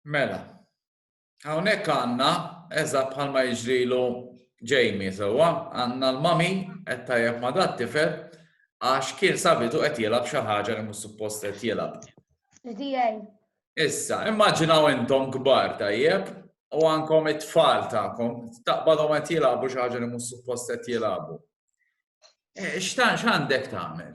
Mela, hawnhekk għandna eżatt bħalma jiġrilu Jamie sewwa, għandna l-mami qed tajjeb ma' dat tifel għax kien sabitu qed jilgħab xi ħaġa li mhux suppost qed jilgħab. Issa, immaġinaw intom kbar tajjeb u għankom it-tfal tagħkom taqbadhom qed jilgħabu xi ħaġa li mhux suppost qed jilgħabu. Eh, x'tan x'għandek tagħmel?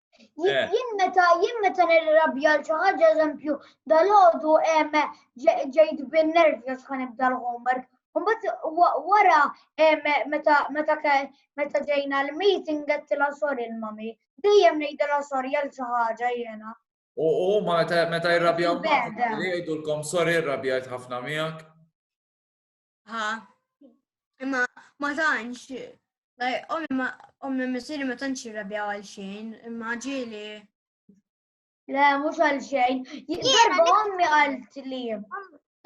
Eh. Jien meta jien meta nirrabja l xi ħaġa eżempju dal-għodu ġejt bin-nervi għax ħan ibda l-homework. Mbagħad wara meta meta meta ġejna l-meeting għedtilha sorry l-mami. Dejjem ngħidilha sorry għal xi ħaġa jiena. U ma meta jirrabjaw jgħidulkom sorry rrabjajt ħafna miegħek. Ha, imma ma tantx, ommi missiri ma tantx jirrabja għal xejn, imma ġili. Le, mhux għal xejn. Darba ommi għalt li.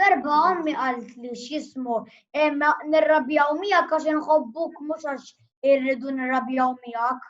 Darba ommi għalt li x'jismu, imma nirrabjaw miegħek għax inħobbuk mhux għax irridu nirrabjaw miegħek.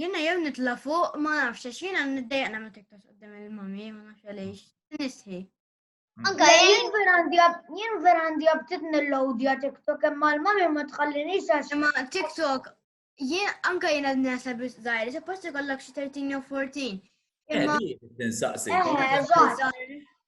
Jena jew nitla fuq, ma nafx, għax jena niddejqna ma tiktas għoddim il-mami, ma nafx għalix, nisħi. Mm. Anka jien verandi jien verandi għabtit nil-lodja TikTok imma l-mami ma tħallini sax. Imma TikTok, jien anka jien għad nasa biex zaħir, se posti kollak xie 13 jew 14. Eh, imma. Tinsaqsi. Eh,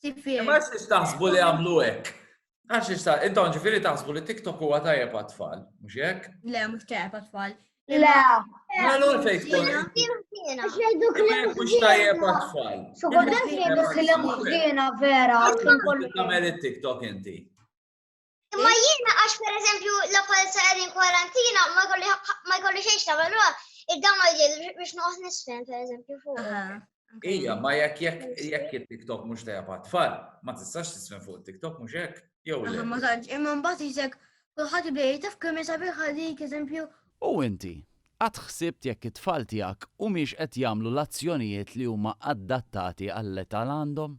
Tifir. Ma xiex taħsbu li għamlu hekk. Għax xiex ta' intom ġifieri taħsbu li TikTok huwa tajjeb għat-tfal, mhux hekk? Le, mhux tajjeb għat-tfal. Le. Għallu fejn tkun. Għax jgħidu kliem. Mhux tajjeb għat-tfal. Xogħol jgħidu kliem ħżiena vera. Tagħmel it-TikTok inti. Imma jiena għax per eżempju la palza għedin kwarantina ma jkolli xejn ta' valura, id-dam ma jġil biex noqgħod nisfen per eżempju fuq. Ija, ma jekk jekk jekk il-TikTok mhux tajja pa' tfal, ma tistax tisfen fuq TikTok mhux hekk. Jew le. Ma tantx, imma mbagħad jisek kulħadd ibej taf kemm isabiħ għalik eżempju. U inti, qatt ħsibt jekk it-tfal tiegħek humiex qed jagħmlu l-azzjonijiet li huma adattati għall-età l għandhom?